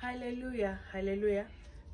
haleluya haleluya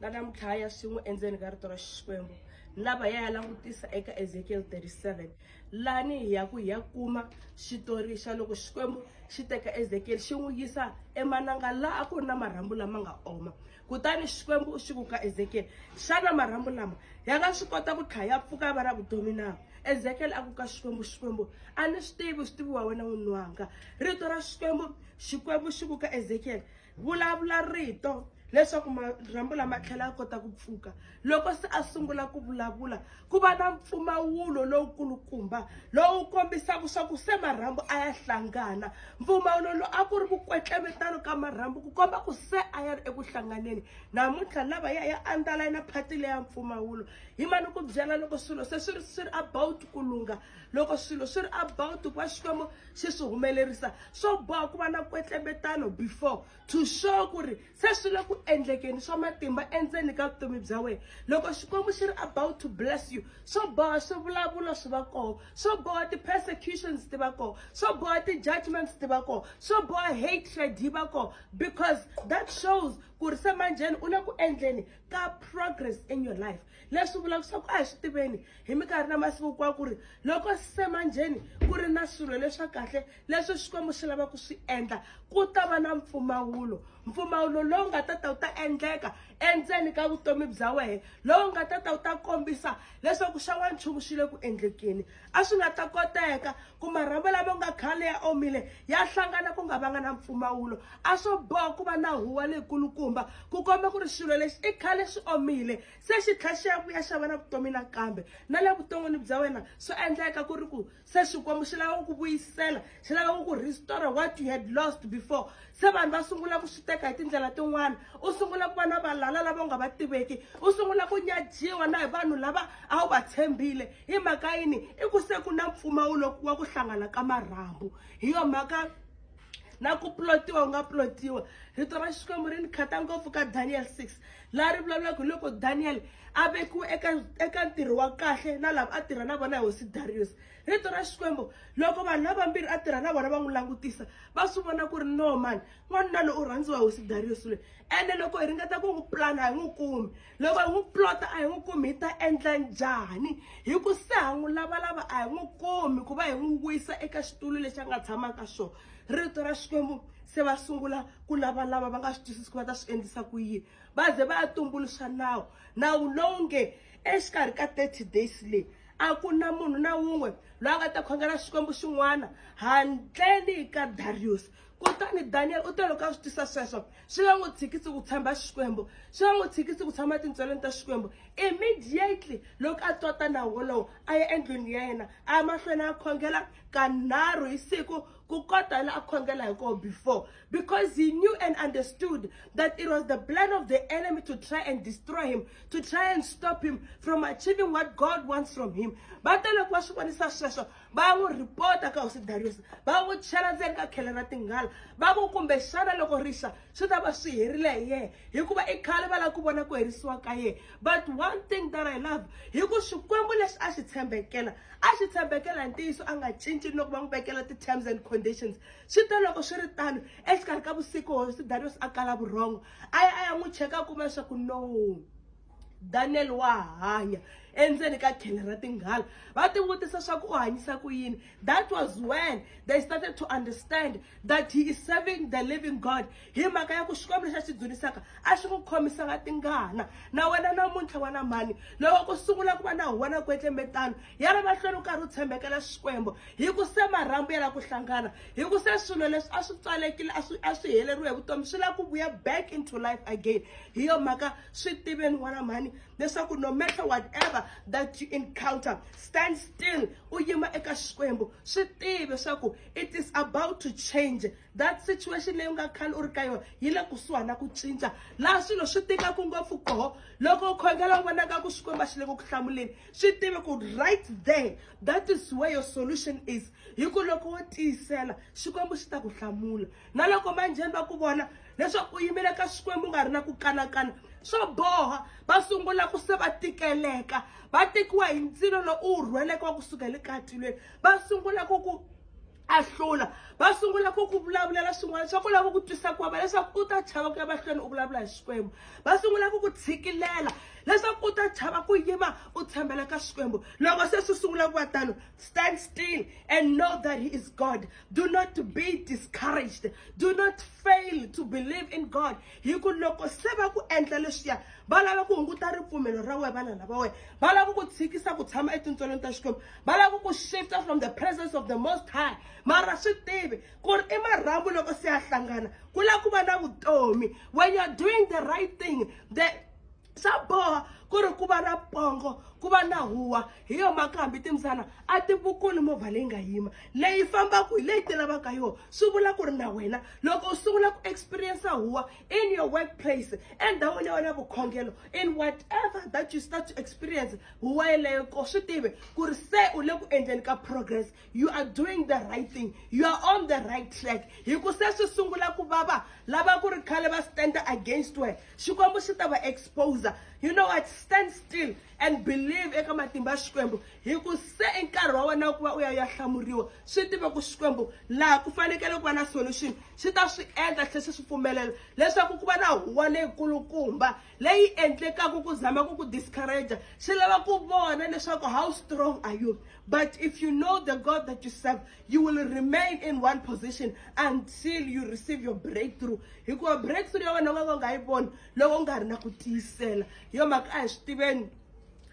na namuntlhaya swin'we endzeni ka rito ra xikwembu lava ya ya langutisa eka ezekiel 37 lani hi ya ku hi ya kuma xitori xa loko xikwembu xi teka ezekiel xi n'wi yisa emananga laha a ku ri na marhambu lama nga oma kutani xikwembu u xi ku ka ezekiel xana marhambu lama ya nga swi kota ku tlhaya ya pfuka ya va ra vutomi na ezekiel a ku ka xikwembu xikwembu a ni swi tivi swi tiviwa wena n'wini wanga rito ra xikwembu xikwembu xi ku ka ezekiyele vulavula rito leswaku marhambu lama tlhela a kota ku pfuka loko se a sungula ku vulavula ku va na mpfumawulo lowukulukumba lowu kombisaka swa ku se marhambu a ya hlangana mpfumawulo lowu a ku ri ku kwetlevetano ka marhambu ku komba ku se a ya ri eku hlanganeni namuntlha lava ya ya andala na phati leya mpfumawulo hi mani ku byela loko swilo se swi ri swi ri about ku lungha loko swilo swi ri about ku va xikwembu xi swi humelerisa swo boha ku va na kwetlembetano before to show ku ri se swi le ku endlekeni swa matimba endzeni ka vutomi bya wena loko xikwembu xi ri about to bless you swo boha swivulavulo swi va koho swo boha ti-persecutions ti va koho swo boha ti-judgments ti va koho swo boha hatred yi va koho because that shows ku ri se manjheni u le ku endleni ka progress in your life leswi vulaka swa ku a hi swi tiveni hi minkarhi na masiku kwa ku ri loko semanjheni ku ri na swilo leswa kahle leswi xikwembu xi lava ku swi endla ku ta va na mpfumawulo mpfumawulo lowu nga ta ta wu ta endleka endzeni ka vutomi bya wena lowu nga ta ta wu ta kombisa leswaku xa wanchumu xi le ku endlekeni a swi nga ta koteka ku marhambu lama nga khale ya omile ya hlangana ku nga vanga na mpfumawulo a swo boha ku va na huwa leyikulukumba ku komba ku ri xilo lexi i khale xi omile se xi tlhla xi ya vuya xa va na vutomi nakambe na le vuton'wini bya wena swi endleka ku ri ku se xikwembu xi lava ku ku vuyisela xi lava ku ku restore what you had lost before se vanhu va sungula ku swi teka hi tindlela tin'wana u sungula ku va na valala lava u nga va tiveki u sungula ku nyajiwa na hi vanhu lava a wu va tshembile hi mhaka yini i ku se ku na mpfumawulo wa ku hlangana ka marhambu hi yo mhaka na ku plotiwa u nga plotiwa rito ra xikwembu ri ni khata ngopfu ka daniel six laha ri vulavulaka hi loko daniel a vekiwe eka eka ntirho wa kahle na lava a tirha na vona hi hosi darius rito ra xikwembu loko vanhu lavambirhi a tirha na vona va n'wi langutisa va swi vona ku ri no mani n'wanuna loyi u rhandziwa hosi darius loyi ene loko hi ringeta ku n'wi pulana a hi n'wi kumi loko hi n'wi plota a hi n'wi kumi hi ta endla njhani hi ku se ha n'wi lavalava a hi n'wi kumi ku va hi n'wi wisa eka xitulu lexi a nga tshamaka xona rito ra xikwembu se va sungula ku lavalava va nga swi twisisi ku va ta swi endlisa ku yini va ze va ya tumbuluxa nawu nawu lowu nge exikarhi ka thirty days leyi a ku na munhu na wun'we loyi a nga ta khongela xikwembu xin'wana handleni ka dariyusi kutani daniyeli u te loko a swi tisa sweswo swi nga n'wi tshikisi ku tshemba xikwembu swi nga n'wi tshikisi ku tshama tintsweleni ta xikwembu immediately loko a twa tanawu wolowo a ya endlwini ya yena a ya mahlweni a khongela kanharhu hi siku ku kota la a khongela hi koho before because he knew and understood that it was the plan of the enemy to try and destroy him, to try and stop him from achieving what God wants from him. But then loko va swi vonisa sweswo va n'wi rhipota ka hosi darius va n'wi chela ndzeni ka khele ra tinghala va ku kumbe xana loko rixa swi ta va swi herile hi yena hikuva i khale va lava ku vona ku herisiwa ka yena but one thing that i love hi ku xikwembu lexi a xi tshembekela a xi tshembekela hi ntiyiso a nga cinci loko va n'wi vekela ti-terms and conditions swi te loko swi ri tano exikarhi ka vusiku hosi daniel a kala vurhongo a ya a ya n'wi cheka a kuma leswaku no daniel wa hanya endzeni ka khele ra tinghala va tivutisa leswaku u hanyisa ku yini that was when they started to understand that he is serving the living god hi mhaka ya ku xikwembu lexi a xi dzunisaka a xi n'wi khomisanga tingana na wena namuntlha wa na mhani loko ku sungula ku va na huwa na kwetlembetano ya ri mahlweni u karhi u tshembekela xikwembu hi ku se marhambu ya la ku hlangana hi ku se swilo leswi a swi pfalekile a swi a swi heleriwe hi vutomi swi la ku vuya back into life again hi yo mhaka swi tiveni n'wana mhani leswaku no matter whatever that you encounter stand still u yima eka xikwembu swi tivi swaku it is about to change that situation leyi u nga khale u ri ka yona yi le kusuhani na ku cinca laha swilo swi tikaku ngopfu koho loko u khongela u vonaka ku xikwembu a xi le ku ku hlamuleni swi tive ku right there that is where your solution is hi ku loko wo tiyisela xikwembu xi ta ku hlamula na loko manjheni va ku vona leswaku u yimile ka xikwembu u nga ri na ku kanakana swo boha va sungula ku se va tikeleka va tekiwa hi ndzilo lowu u wu rhweleke wa ku suka le katilweni va sungula ku ku a hlula va sungula ku ku vulavulela swin'wana swa ku lava ku twisa ku vava leswaku u ta chava ku ya mahlweni u vulavula hi xikwembu va sungula ku ku tshikilela leswaku u ta chava ku yima u tshembela ka xikwembu loko se swi sungula ku va tano stand still and know that he is god do not be discouraged do not fail to believe in god hi ku loko se va ku endla leswiya va lava ku hunguta ripfumelo ra wena vanana va wena va lava ku tshikisa ku tshama etintswelweni ta xikwembu va lava ku shifta from the presence of the most high mara swi tivi ku ri i marhambu loko se ya hlangana ku lava ku va na vutomi when you're doing the right thing the swa boha ku ri ku va na pongo ku va na huwa hi yo mhaka hambi timbyana a ti vukuli movha leyi nga yima leyi fambaka hi leyi ti lavaka yona swi vula ku ri na wena loko u sungula ku experience huwa in your workplace endhawini ya wena vukhongelo in whatever that you start to experience huwa yeleyo ko swi tivi ku ri se u le ku endleni ka progress you are doing the right thing you are on the right track hi ku se swi sungula ku vava lava ku ri khale va standa against wena Xikwembu xi ta va exposer. You know what? Stand still and believe eka matimba ya Xikwembu. Hi ku se i nkarhi wa wena ku va u ya ya hlamuriwa. Swi tive ku Xikwembu laha ku fanekele ku va na solution xi ta swi endla tlhe xi swi pfumelela leswaku ku va na huwa leyikulukumba leyi endlekaka ku zama ku ku discourage xi lava ku vona leswaku how strong are you but if you know the God that you serve you will remain in one position until you receive your breakthrough hikuva breakthrough ya wena u nga ka u nga yi voni loko u nga ri na ku tiyisela hi yo mhaka a hi swi tiveni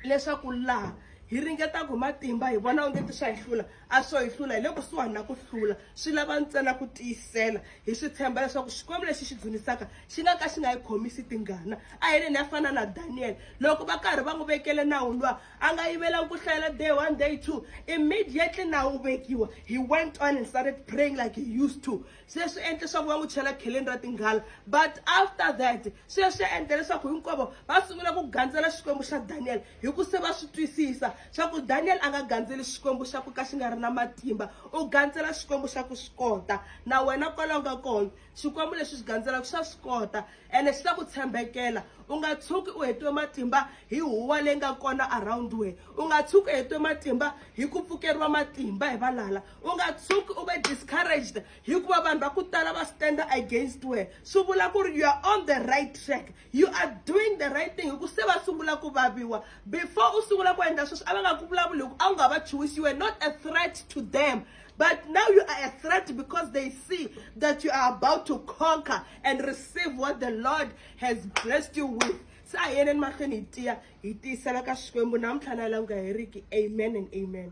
leswaku laha hi ringetaka hi matimba hi vona onge ti swa hi hlula a swo hi hlula hi le kusuhani na ku hlula swi lava ntsena ku tiyisela hi swi tshemba leswaku xikwembu lexi xi dzunisaka xi nga ka xi nga yi khomisi tingana a hi leni ya fana na daniyele loko va karhi va n'wi vekele nawu luwa a nga yivelanga ku hlayela day one day two immediately na wu vekiwa he went on and started praying like he used to se swi endle leswaku va n'wi chela kheleni ra tinghala but after that se swi endle leswaku hinkwavo va sungula ku gandzela xikwembu xa daniel hi ku se va swi twisisa swa ku daniel a nga gandzeli xikwembu xa ku ka xi nga ri na matimba u gandzela xikwembu xa ku swi kota na wena kwalaho ka kona xikwembu lexi xi gandzela ku xa swi kota ene xi ta ku tshembekela u nga tshuki u hetiwe matimba hi huwa leyi nga kona around we u nga tshuki u hetiwe matimba hi ku pfukeriwa matimba hi valala u nga tshuki u ve discouraged hikuva vanhu va ku tala va standa against we swi vula ku ri you are on the right track you are doing the right thing hi ku se va sungula ku vaviwa before u sungula ku endla sweswi a va nga ku vulavuli hi ku a wu nga va chuwisi you were not a threat to them but now you are a threat because they see that you are about to conquer and receive what the lord has blessed you with se a hi yeneni mahlweni hi tiya hi tiyisela ka xikwembu namuntlha na yi languka heriki amen and amen